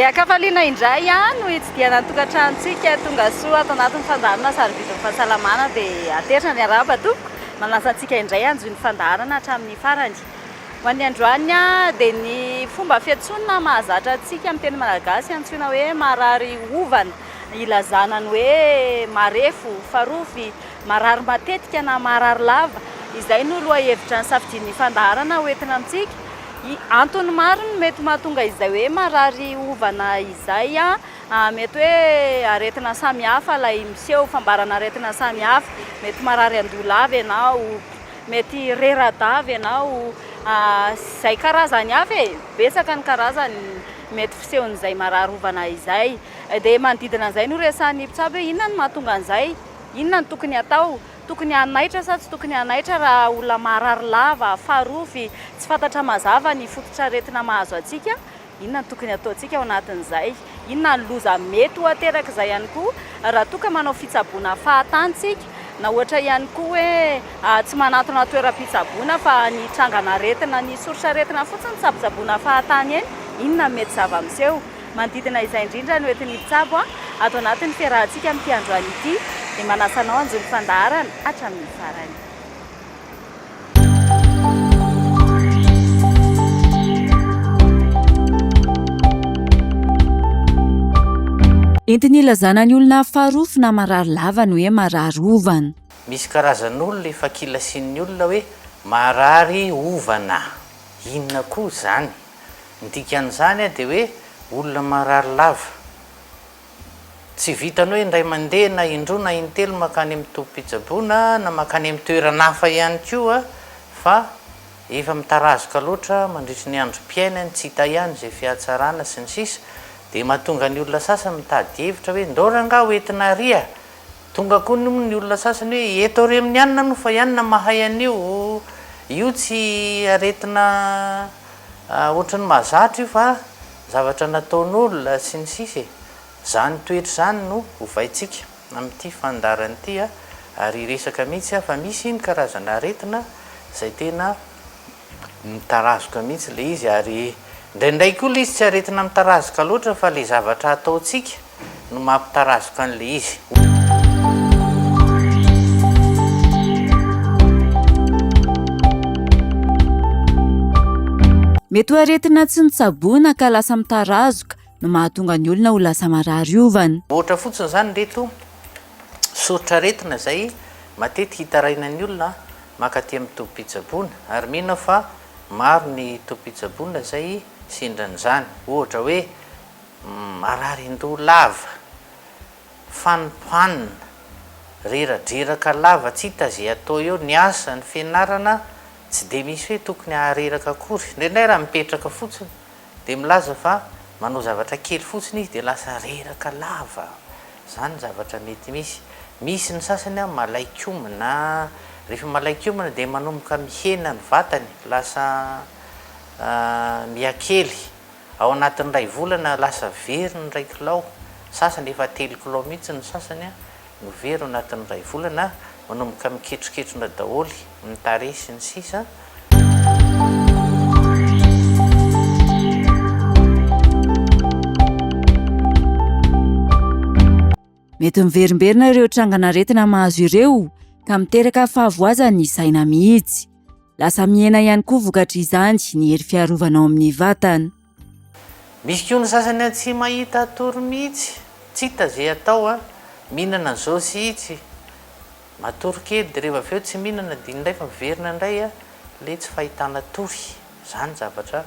Dia an-kafaliana indray no hitsidihana ny tokantranontsika tonga soa ato anatin'ny fandaharana Sarobidy ny fahasalamana dia aterina ny haraba tompoko, manasa antsika indray hanjohy ny fandaharana hatramin'ny farany. Ho an'ny androany dia ny fomba fiantsoana mahazatra antsika amin'ny teny malagasy antsoina hoe marary hovana ilazana ny hoe marefo, farofy, marary matetika na marary lava. Izay no lohahevitra nosafidian'ny fandaharana ho entina amintsika. Antony maro no mety mahatonga izay hoe marary hovana izay. Mety hoe aretina samihafa ilay miseho, fambaran'aretina samihafa. Mety marary an-doha lava ianao. Mety reradavy ianao izay karazany hafa e! Betsaka ny karazany mety fisehon'izay marary ovana izay. Dia manodidina an'izay no resahan'ny mpitsabo hoe inona no mahatonga an'izay? Inona no tokony hatao? Tokony hanaitra sa tsy tokony hanaitra raha olona marary lava, farofy, tsy fantatra mazava ny fototr'aretina mahazo antsika? Inona no tokony hataontsika ao anatin'izay? Inona ny loza mety ho aterak'izay ihany koa raha toa ka manao fitsaboana fahatany isika? Na ohatra ihany koa hoe tsy manantona toeram-pitsaboana fa any hitrangana aretina any soritr'aretina fotsiny tsabotsaboina fahatany eny, inona no mety zava-miseho? Manodidina izay indrindra no entin'ny mpitsabo ato anatin'ny fiarahantsika amin'ity androany ity dia manasa anao hanjo ny fandaharana hatramin'ny farany. Entina ilazana ny olona farofy na marary lava ny hoe marary ovana. Misy karazan'olona efa kilasian'ny olona hoe marary ovana. Inona koa izany? Ny dikan'izany dia hoe olona marary lava. Tsy vitan'ny hoe indray mandeha na indroa na intelo mankany amin'ny tobim-pitsaboana na mankany amin'ny toerana hafa ihany koa fa efa mitarazoka loatra mandritry ny androm-piainany, tsy hita ihany izay fihatsarana sy ny sisa dia mahatonga ny olona sasany mitady hevitra hoe ndao rangaha ho entina ary a! Tonga koa ny ny olona sasany hoe eto re amin'ny anona no fa ianona mahay an'io, io tsy aretina ohatry ny mahazatra io fa zavatra nataon'olona sy ny sisa e! Zany toetra zany no ovaintsika amin'ity fandaharana ity ary hiresaka mihitsy aho fa misy ny karazana aretina zay tena Mitarazoka mihitsy ilay izy ary indraindray koa ilay izy tsy aretina mitarazoka loatra fa ilay zavatra ataontsika no mampitarazoka an'ilay izy. Mety ho aretina tsy notsaboina ka lasa mitarazoka, no mahatonga ny olona ho lasa marary ovana. Ohatra fotsiny izany ireto soritr'aretina izay matetika hitarainan'ny olona mankaty amin'ny tobim-pitsaboana ary mino aho fa maro ny tobim-pitsaboana izay sendran'izany. Ohatra hoe mararin-doha lava, fanompanina, reradreraka lava tsy hita izay atao eo, ny asa, ny fianarana tsy dia misy hoe tokony hahareraka akory. Indraindray raha mipetraka fotsiny Dia milaza fa manao zavatra kely fotsiny izy dia lasa reraka lava. Izany ny zavatra mety misy. Misy ny sasany an, malaiky homana. Rehefa malaiky homana dia manomboka mihena ny vatany, lasa miha kely. Ao anatin'ny iray volana lasa very ny iray kilao, sasany efa telo kilao mihitsy ny sasany an. no very ao anatin'ny iray volana manomboka mikitrokitrona daholo ny tarehy sy ny sisa. Mety miverimberina ireo trangan'aretina mahazo ireo ka miteraka fahavoazan'ny saina mihitsy. Lasa mihena ihany koa vokatry izany ny hery fiarovana ao amin'ny vatana. Misy koa ny sasany an tsy mahita atoro mihitsy, tsita ze atao an, mihinana zao sy itsy, matory kely de reva avy eo tsy mihinana de iny ndray fa miverina ndray an le tsy fahitana tory, zany zavatra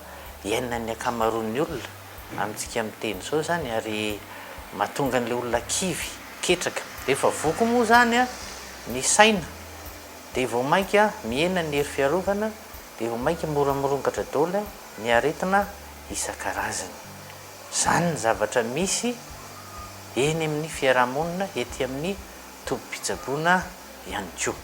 iainan'ny ankamaroan'ny olona amintsika miteny zao zany ary mahatonga an'le olona kivy, ketraka, de efa voky moa zany an ny saina de vao mainka mihena ny hery fiarovana de vao mainka mora mirongatra daoly an Ny aretina isan-karazany. Izany ny zavatra misy eny amin'ny fiaraha-monina ety amin'ny tobim-pitsaboana ihany koa.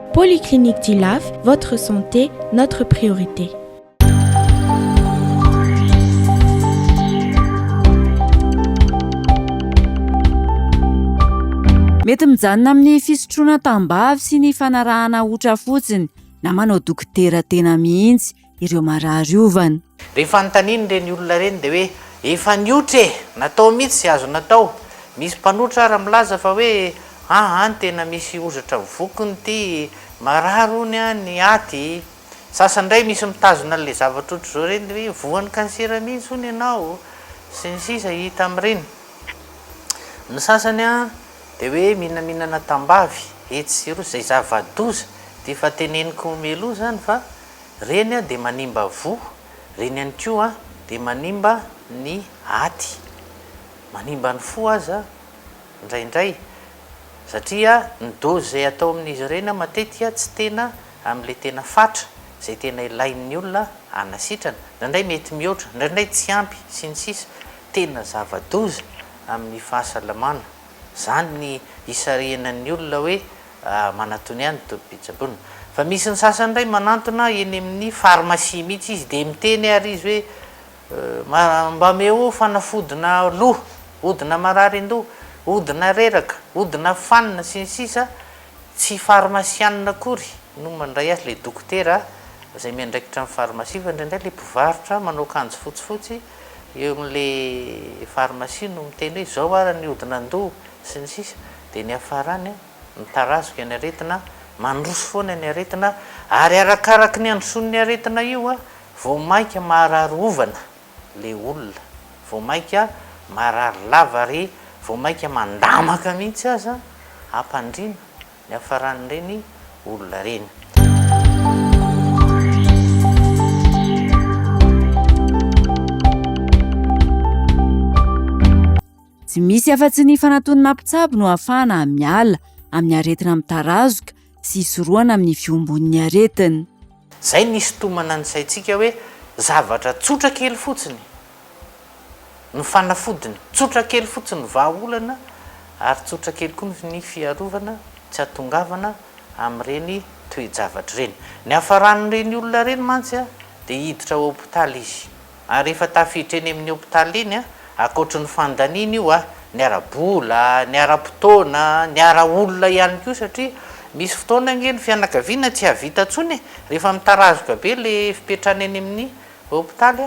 Polyclinique du Laf, votre santé, notre priorité. Mety mijanona amin'ny fisotroana tambavy sy ny fanarahana otra fotsiny na manao dokotera tena mihitsy. ireo marary ovana. Dia fanontaniany ireny olona ireny dia hoe efa niotra e! Natao mihitsy izay azo natao. Misy mpanotra ary milaza fa hoe aa any tena misy ozatra vokiny ity, marary hono an ny aty. Sasany indray misy mitazona an'ilay zavatra ohatr'izao ireny dia hoe voan'ny kansera mihitsy hono ianao sy ny sisa hita amin'ireny. Ny sasany an dia hoe minaminana tambavy etsy sy eroa izay zava-doza dia efa teneniko omelo izany fa Reny dia manimba voa, reny ihany koa dia manimba ny aty, manimba ny fo aza indraindray satria ny dose izay atao amin'izy ireny matetika tsy tena amin'ilay tena fatra, izay tena ilain'ny olona hanasitrana, indraindray mety mihoatra, indraindray tsy ampy sy ny sisa Tena zava-doza amin'ny fahasalamana. Izany ny hisarihana ny olona hoe Ah, manatony any tobim-pitsaboana. Fa misy ny sasany indray manantona eny amin'ny pharmacie mihitsy izy dia miteny ary izy hoe ma, mba meo fanafodina loha, odina mararin-doha, odina reraka, odina fanina sy ny sisa Tsy farmasianina akory no mandray azy, ilay dokotera izay miandraikitra ny farmasia fa indraindray ilay mpivarotra manao akanjo fotsifotsy eo amin'ilay pharmacie no miteny hoe izao ara ny hodin'andoha sy ny sisa dia ny hafarany mitarazoka ny aretina, mandroso foana ny aretina ary arakaraky ny handrosoan'ny aretina io vao mainka maharary ovana ilay olona, vao mainka maharary lava ary vao mainka mandamaka mihitsy aza hampandriana niafaran'ireny olona ireny. Tsy misy afa-tsy ny fanatonana mpitsabo no ahafahana miala amin'ny aretina mitarazoka sy hisorohana amin'ny fiombon'ny aretina. Izay no hisintomana ny saintsika hoe zavatra tsotra kely fotsiny no fanafodiny, tsotra kely fotsiny ny vahaolana ary tsotra kely koa ny fiarovana tsy hahatongavana amin'ireny toe-javatra ireny. Niafaran'ireny olona ireny mantsy dia hiditra ao hopitaly izy. Ary efa tafiditra eny amin'ny hopitaly eny, ankoatry ny fandaniana io, ny ara-bola, ny ara-potoana, ny ara-olona ihany koa satria misy fotoana ange ny fianakaviana tsy hahavita intsony e! rehefa mitarazoka be ilay fipetrany eny amin'ny hopitaly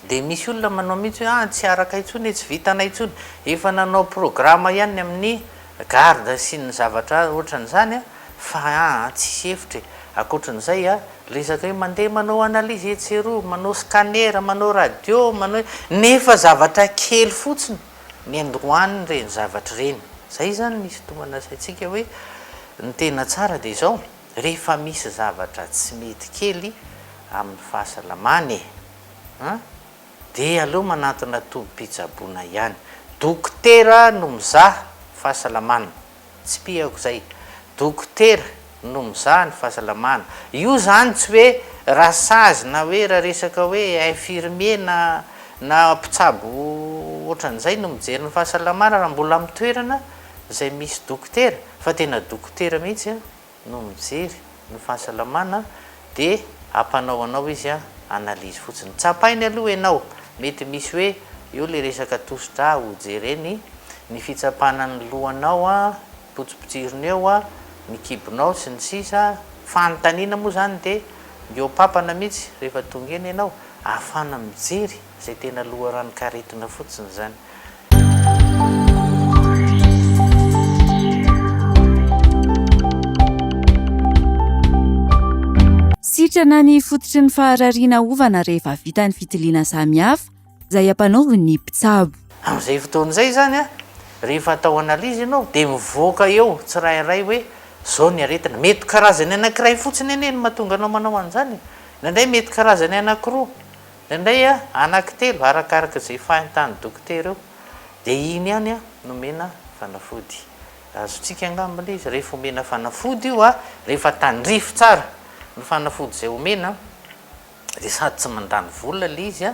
dia misy olona manao mihitsy hoe an! tsy araka intsony e! tsy vitanay intsony, efa nanao programa ihany ny amin'ny garde sy ny zavatra ohatran'izany an! Fa aa tsisy hevitra e. Akoatran'izay a, resaka hoe mandeha manao analyse etsy sy eroa, manao scanner, manao radio, manao i, nefa zavatra kely fotsiny ny androan'ireny zavatra ireny. Izay izany no isintomana saintsika hoe ny tena tsara dia izao, rehefa misy zavatra tsy mety kely amin'ny fahasalamana e, an, dia aleo manantona tobim-pitsaboana ihany. Dokotera no mizaha fahasalamana. Tsipihako zay. Dokotera no mizaha ny fahasalamana. Io zany tsy hoe rasazy na hoe raha resaka hoe infirmier na na mpitsabo ohatran'izay no mijery ny fahasalamana raha mbola amin'ny toerana izay misy dokotera fa tena dokotera mihitsy an. no mijery ny fahasalamana dia ampanao anao izy analyse fotsiny tsapainy aloha enao mety misy hoe eo le resaka tosidra ho jereny ny fitsapana ny lohanao a potsipotsirina eo a ny kibonao sy ny sisa fanontaniana moa zany de mihoapapana mitsy rehefa tonga eny enao ahafana mijery zay tena loharanon-karetina fotsiny zany Sitrana ny fototry ny faharariana ovana rehefa vita ny fitiliana samihafa izay ampanaovin'ny mpitsabo. Amin'izay fotoana izay izany, rehefa atao analyse ianao dia mivoaka eo tsirairay hoe izao ny aretina. Mety karazany anankiray fotsiny anie no mahatonga anao manao an'izany e! Indraindray mety karazany anankiroa. Indraindray anaky telo arakaraka izay fahintan'ny dokotera eo dia iny ihany no omena fanafody. Azontsika angamba ilay izy rehefa omena fanafody io rehefa tandrify tsara ny fanafody izay omena dia sady tsy mandany vola ilay izy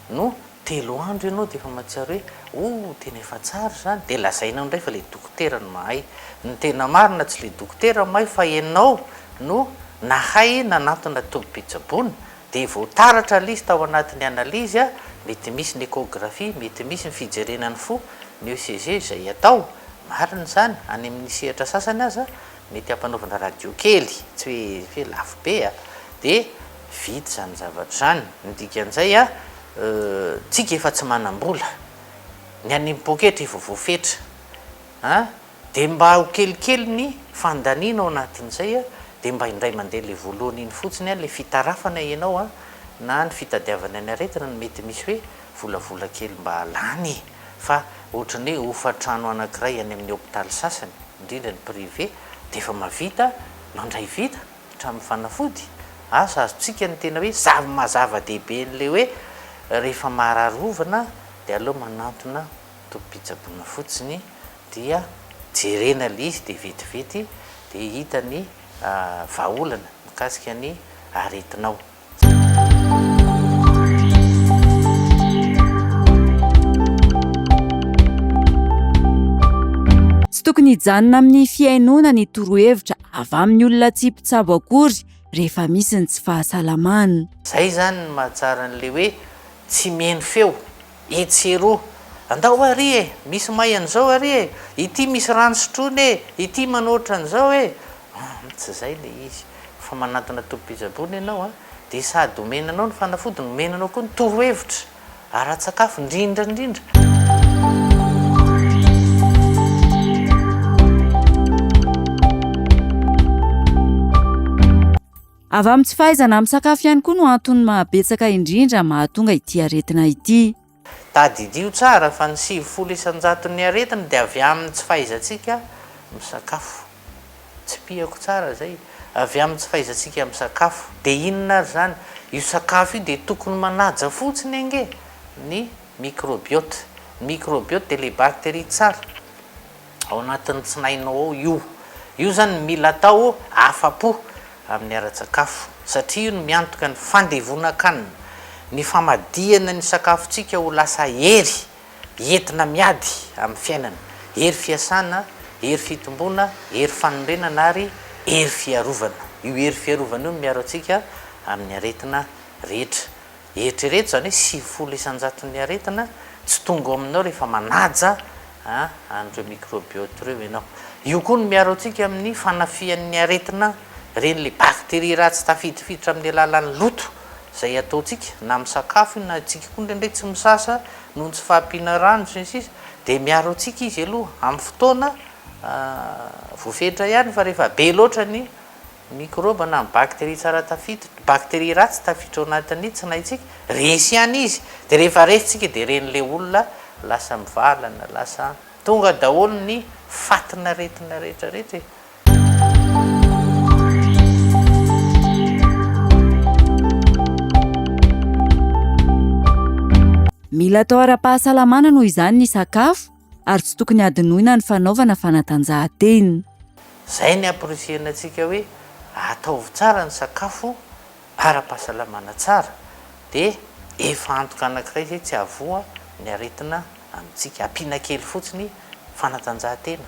no telo andro ianao dia efa mahatsiaro hoe oh tena efa tsara izany dia lazainao indray fa ilay dokotera no mahay. Ny tena marina tsy ilay dokotera no mahay fa ianao no nahay nanantona tobim-pitsaboana. Dia voataratra list ao anatin'ny analyse, mety misy ny échographie, mety misy ny fijerena ny fo, ny ECG, izay atao, marina izany, any amin'ny sehatra sasany aza, mety hampanaovina radio kely, tsy hoe hoe lafo be a! dia vita izany zavatra izany. Ny dikan'izay a, tsika efa tsy manam-bola, ny any poketra efa voafetra a! Dia mba ho kelikely ny fandaniana ao anatin'izay a, dia mba indray mandeha ilay voalohany iny fotsiny a, ilay fitarafana ianao a, na ny fitadiavana ny aretina no mety misy hoe volavola kely mba lany e! fa ohatran'ny hoe hofantrano anankiray any amin'ny hopitaly sasany, indrindra ny privé, dia efa mahavita mandray vita hatramin'ny fanafody, asa azontsika ny tena hoe zava-maha-zava-dehibe an'ilay hoe rehefa maharary hovana dia aleo manantona tobim-pitsaboana fotsiny dia jerena ilay izy dia vetivety dia hita ny vahaolana mikasika ny aretinao. Tsy tokony hijanona amin'ny fihainoana ny torohevitra avy amin'ny olona tsy mpitsabo akory rehefa misy ny tsy fahasalamana. Izay izany no mahatsara an'ilay hoe tsy mihaino feo. Etsy eroa. Andao ary e! Misy may an'izao ary e! Ity misy rano sotroina e! Ity manao ohatran'izao e! Humm, tsy izay ilay izy. Fa manantona tobim-pijabona ianao an! Dia sady omena anao ny fanafody no omena anao koa ny torohevitra ara-tsakafo, indrindra indrindra. Avy amin'ny tsy fahaizana misakafo ihany koa no antony mahabetsaka indrindra mahatonga ity aretina ity. Tadidio tsara fa ny sivifolo isan-jaton'ny aretina dia avy amin'ny tsy fahaizantsika misakafo. Tsipihako tsara izay, avy amin'ny tsy fahaizantsika misakafo. Dia inona ary izany? Io sakafo io dia tokony manaja fotsiny ange ny microbiote. Ny microbiote dia ilay bakteria tsara. Ao anatin'ny tsinainao ao io. Io zany no mila atao afa-po amin'ny ara-tsakafo satria io no miantoka ny fandevonan-kanina, ny famadihana ny sakafontsika ho lasa hery entina miady amin'ny fiainana, hery fiasana, hery fitomboana, hery fanorenana ary hery fiarovana. Io hery fiarovana io no miaro antsika amin'ny aretina rehetra. Eritrereto izany hoe sivifolo isan-jaton'ny aretina tsy tonga ao aminao rehefa manaja an'ireo mikrôbiôty ireo ianao. Io koa no miaro antsika amin'ny fanafihan'ny aretina ireny ilay bakteria ratsy tafidifiditra amin'ny alalan'ny loto izay ataontsika na amin'ny sakafo io na isika koa indraindray tsy misasa noho ny tsy fahampiana rano sy ny sisa dia miaro antsika izy aloha amin'ny fotoana voafetra ihany fa rehefa be loatra ny Mikrôba na ny bakteria tsara tafiditra, ny bakteria ratsy tafiditra ao anatin'ny tsinaintsika, resy ihany izy, dia rehefa resy tsika dia ren'ilay olona lasa mivalana, lasa tonga daholo ny fatin'aretina rehetra rehetra e! Mila atao ara-pahasalamana noho izany ny sakafo, ary tsy tokony hadinoina ny fanaovana fanatanjahantena. Izay ny hampirisihina antsika hoe ataovy tsara ny sakafo ara-pahasalamana tsara dia efa antoka anankiray izay tsy hahavoa ny aretina amintsika, ampiana kely fotsiny fanatanjahantena,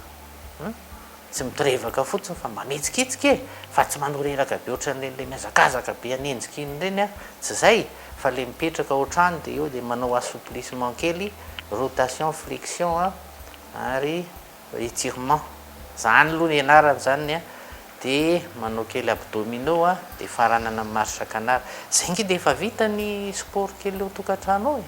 Tsy mitorevaka fotsiny fa mamitsikitsika e! Fa tsy manoreraka be ohatran'ireny le mihazakazaka be hanenjika iny ireny a! Tsy zay! Fa le mipetraka ao an-trano de eo de manao assouplissement kely, rotation, flexion a! ary étirement. Zany aloha ny ianarany zany ny a! de manao kely abdominaux a! de faranana amin'ny marche canard. Zay nge de efa vita ny sport kely ao tokantrano ao e!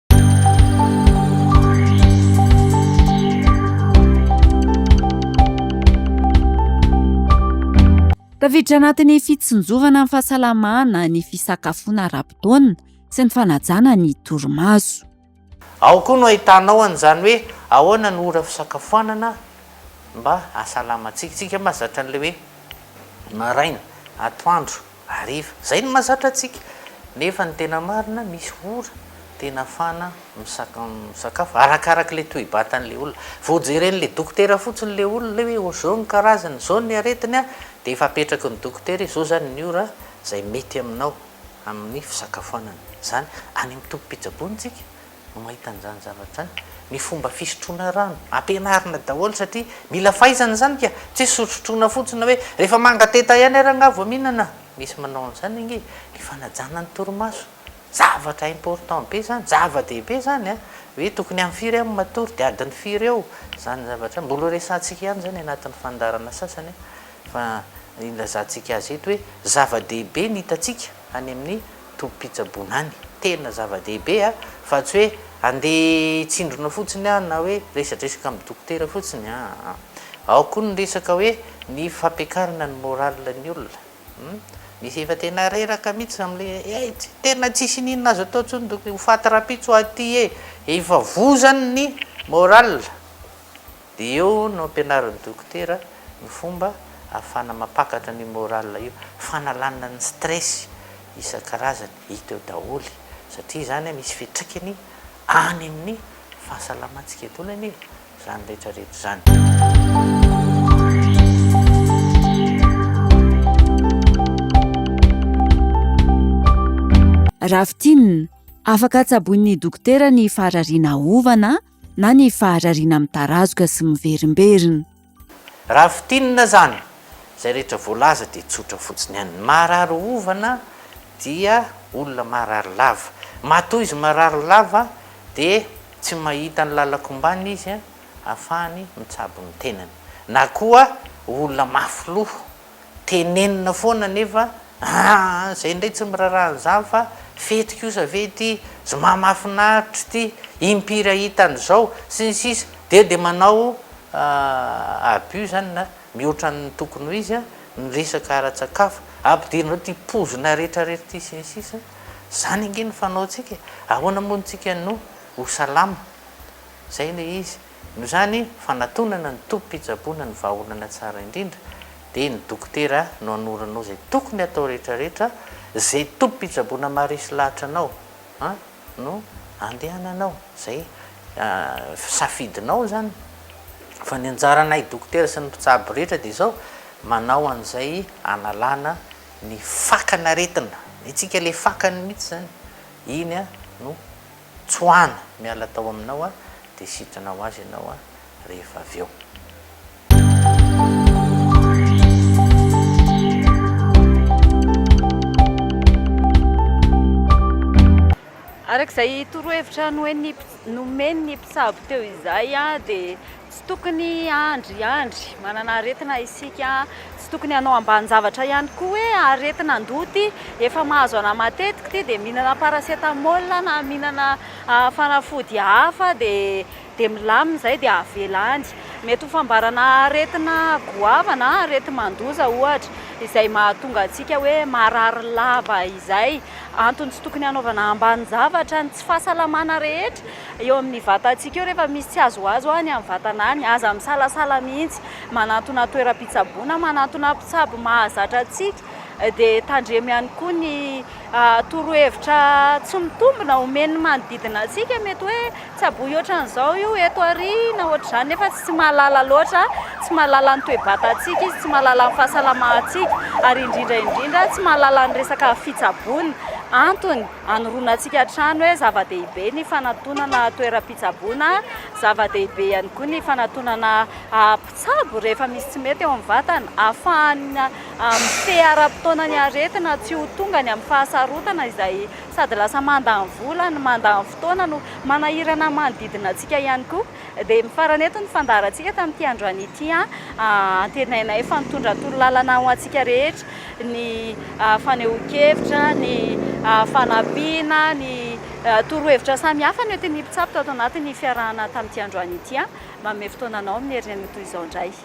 Tafiditra anatin'ny fitsinjovana ny fahasalamana ny fisakafoana ara-potoana sy ny fanajana ny torimaso. Ao koa no ahitanao an'izany hoe ahoana no ora fisakafoanana mba hahasalamantsika. Isika mazatra an'ilay hoe maraina, atoandro. Hariva. Izay no mahazatra antsika. Nefa ny tena marina, misy ora tena afahana misakafo, arakaraka ilay toe-batan'ilay olona. Vao jeren'ilay dokotera fotsiny ilay olona hoe izao ny karazany, izao ny aretiny dia efa apetraky ny dokotera hoe izao izany ny ora izay mety aminao amin'ny fisakafoanana. Izany any amin'ny tobim-pitsaboana isika no mahita an'izany zavatra izany, ny fomba fisotroana rano, ampianarina daholo satria mila fahaizana izany ka, tsy hoe sotrotroana fotsiny hoe rehefa manga teta ihany ary angaha vao mihinana, misy manao an'izany ange, ny fanajana ny torimaso, zavatra important be izany, zava-dehibe izany an, hoe tokony amin'ny firy aho no matory dia adiny firy eo izany zavatra izany, mbola ho resahantsika ihany izany anatin'ny fandaharana sasany an, fa ilazantsika azy eto hoe zava-dehibe ny hitantsika any amin'ny. Tobim-pitsaboana any, tena zava-dehibe a! Fa tsy hoe andeha hitsindrona fotsiny a! Na hoe resadresaka amin'ny dokotera fotsiny a! Ao koa ny resaka hoe ny fampiakarana ny morale ny olona hum! Misy efa tena reraka mihitsy amin'ilay hoe hey! tena tsisy iniana azo atao intsony dokotra, ho faty rahampitso aho aty e! Efa vozany ny morale. Dia eo no ampianarin'ny dokotera ny fomba ahafahana mampakatra an'io morale io, fanalana ny stress isan-karazany, hita eo daholo satria izany misy fiatraikany any amin'ny fahasalamantsika intsony anie izany rehetra rehetra izany. Raha fintinina, afaka tsaboin'ny dokotera ny faharariana aovana, na ny faharariana mitarazoka sy miverimberina. Raha fintinina izany, izay rehetra voalaza dia tsotra fotsiny ihany. Ny maharary ovana dia olona maharary lava. Matoa izy marary lava dia tsy mahita ny lalan-kombany izy ahafahany mitsabo ny tenany. Na koa olona mafy loha Tenenina foana nefa aa zay ndray tsy miraraha an'izany fa fety kosa ve ity, zma mahafinaritra ity, impiry ahita an'izao, sy ny sisa Dia dia manao abus zany na mihoatra ny tokony ho izy ny resaka ara-tsakafo, ampidirinareo ity pozina rehetra rehetra ity sy ny sisa Zany ange no fanaontsika e, ahoana moa ntsika no ho salama? Zay le izy. Noho izany, fanatonana ny tobim-pitsaboana ny vahaolana tsara indrindra, dia ny dokotera no hanoro anao izay tokony hatao rehetrarehetra, izay tobim-pitsaboana maharesy lahatra anao no handehananao, izay safidinao izany. Fa ny anjaranay dokotera sy ny mpitsabo rehetra dia izao, manao an'izay hanalana ny fakan'aretina, ny antsika ilay fakany mihitsy izany, iny no. Tsoahana miala tao aminao aho dia sitrana ho azy ianao rehefa avy eo. Araka izay torohevitra nomen'ny mpitsabo teo izay dia. Tsy tokony hahandry andry manana aretina isika. Tsy tokony hanao ambanin-javatra ihany koa hoe aretin'andoha ity, efa mahazo anà matetika ity dia mihinana paracetamol na mihinana fanafody hafa dia dia milamina izay dia avela any. Mety ho fambarana aretina goavana na areti-mandoza ohatra izay mahatonga antsika hoe marary lava izay. Antony tsy tokony hanaovana ambanin-javatra ny tsy fahasalamana rehetra. Eo amin'ny vatantsika eo rehefa misy tsy azoazo any amin'ny vatana any, aza misalasala mihitsy manantona toeram-pitsaboana, manantona mpitsabo mahazatra antsika dia tandremo ihany koa ny torohevitra tsy mitombina omen'ny manodidina antsika, mety hoe tsaboy ohatran'izao io eto aoriana ohatr'izany nefa tsy mahalala loatra, tsy mahalala ny toe-batantsika izy, tsy mahalala ny fahasalamantsika ary indrindra indrindra tsy mahalala ny resaka fitsaboana, antony. Anoronantsika hatrany hoe zava-dehibe ny fanatonana toeram-pitsaboana, zava-dehibe ihany koa ny fanatonana mpitsabo rehefa misy tsy mety eo amin'ny vatana, ahafahana mifehy ara-potoana ny aretina tsy ho tonga any amin'ny fahasarotana izay sady lasa mandany vola no mandany fotoana no manahirana ny manodidina antsika ihany koa. Dia mifarana eto ny fandaharantsika tamin'ity androany ity. Antenainay fa nitondra torolalana ho antsika rehetra ny fanehoan-kevitra, ny fanampiana, ny torohevitra samihafa nentin'ny mpitsabo tato anatin'ny fiarahana tamin'ity androany ity. Manome fotoana anao amin'ny herin'ny anio toy izao indray.